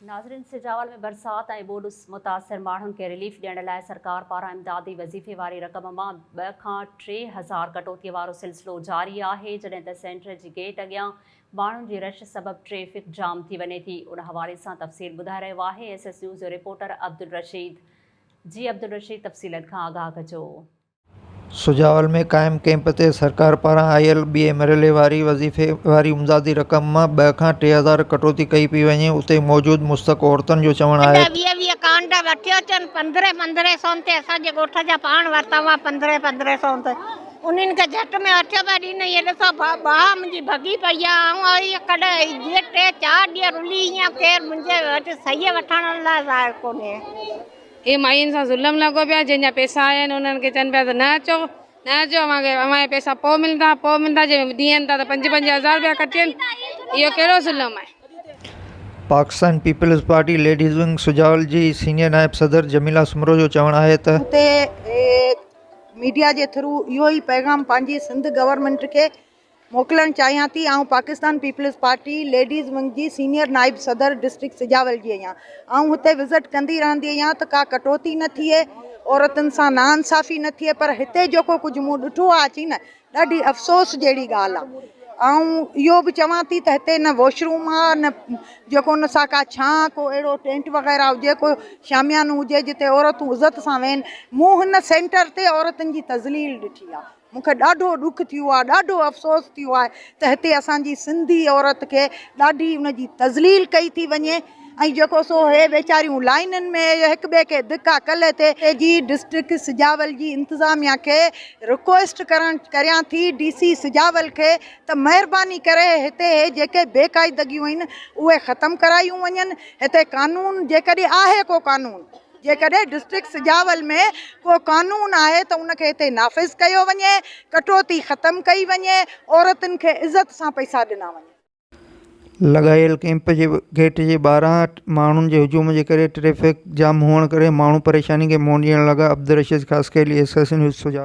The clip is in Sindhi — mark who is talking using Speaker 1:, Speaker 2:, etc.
Speaker 1: ناظرين سجاول ۾ برسات ۽ ٻوڏ متاثر ماڻهن کي رليف ڏيڻ لاء سرڪار پاران امدادي وظيفي واري رقم مان ٻه کان ٽي هزار ڪٽوتي وارو سلسلو جاري آهي جڏهن ته سينٽر جي گيٽ اڳيان ماڻهن جي رش سبب ٽريفڪ جام ٿي وڃي ٿي ان حوالي سان تفصيل ٻڌائي رهيو آهي ايس ايس نيوز جو رپورٽر عبدالرشيد جي عبدالرشيد تفصيلن کان آگاهه ڪجو. سجاول
Speaker 2: ۾ قائم ڪئمپ تي سرڪار پاران آيل ٻئي مرحلي واري وظيفي واري امدادي رقم مان ٻه کان ٽي هزار ڪٽوتي ڪئي پئي وڃي اتي موجود مستحق عورتن جو چوڻ آهي ته ويهه ويهه ڪانڊا
Speaker 3: وٺي اچن پندرهن پندرهن سون تي اسان جي ڳوٺ جا پاڻ ورتا هئا پندرهن پندرهن سون تي انهن کي جهٽ ۾ وٺي پيا ڏين هي ڏسو ڀا باهه منهنجي ڀڳي پئي آهي آئون اهي ڪڏهن اهي جي ٽي چار ڏينهن رلي هيان ڪير منهنجي وٽ سهي وٺڻ لاء ظاهر ڪونهي اهي
Speaker 4: ماين سان ظلم لڳو پيو آهي جن جا پيسا آيا آهن انهن کي چون پيا ته نه اچو نه اچو اوهان کي اوهان جا پيسا پوء ملندا پوء ملندا جي ڏيئن ٿا ته پنج پنج هزار رپيا ڪٽين اهو ڪهڙو ظلم آهي. پاڪستان
Speaker 2: پيپلز پارٽي ليڊيز ونگ سجاول جي سينيئر نائب صدر جميلا سومرو جو چوڻ آهي ته. اتي ميڊيا
Speaker 5: جي ٿرو اهو ئي پيغام پنهنجي سنڌ گورنمينٽ کي موڪلڻ چاهيان ٿي آئون پاڪستان پيپلز پارٽي ليڊيز ونگ جي سينيئر نائب صدر ڊسٽرڪٽ سجاول جي آهيان آئون هتي وزٽ ڪندي رهندي آهيان ته ڪا ڪٽوتي نه ٿئي عورتن سان نا انصافي نه ٿئي پر هتي جيڪو ڪجهه مون ڏٺو آهي اچي نه ڏاڍي افسوس جهڙي ڳالهه آهي آئون اهو به چوان ٿي ته هتي نه واش روم آهي نه جيڪو ان سان ڪا ڇانه ڪو اهڙو ٽينٽ وغيره هجي ڪو شاميانو هجي جتي عورتون عزت سان ويهن مون هن سينٽر تي عورتن جي تذليل ڏٺي آهي مون کي ڏاڍو ڏک ٿيو آهي ڏاڍو افسوس ٿيو آهي ته هتي اسان جي سنڌي عورت کي ڏاڍي ان جي تذليل ڪئي ٿي وڃي ۽ جيڪو سو هي ويچاريون لائينن ۾ هڪ ٻئي کي ڌڪا ڪلهه تي اي جي ڊسٽرڪٽ سجاول جي انتظاميا کي رڪويسٽ ڪرڻ ڪريان ٿي ڊي سي سجاول کي ته مهرباني ڪري هتي هي جيڪي بي قاعدگيون اهن اهي ختم ڪرايون وڃن هتي قانون جيڪڏهن آهي ڪو قانون جيڪڏهن ڊسٽرڪٽ سجاول ۾ ڪو قانون آهي ته ان کي هتي نافذ ڪيو وڃي، ڪٽوتي ختم ڪئي وڃي، عورتن کي عزت سان پئسا ڏنا وڃن.
Speaker 2: لڳايل ڪئمپ جي گيٽ جي ٻاهران ماڻهن جي هجوم جي ڪري ٽريفڪ جام هئڻ ڪري ماڻهو پريشاني کي منهن ڏيڻ لڳا عبدالرشيد خاصخيلي ايسوسيئيشن يوٿ سجاول.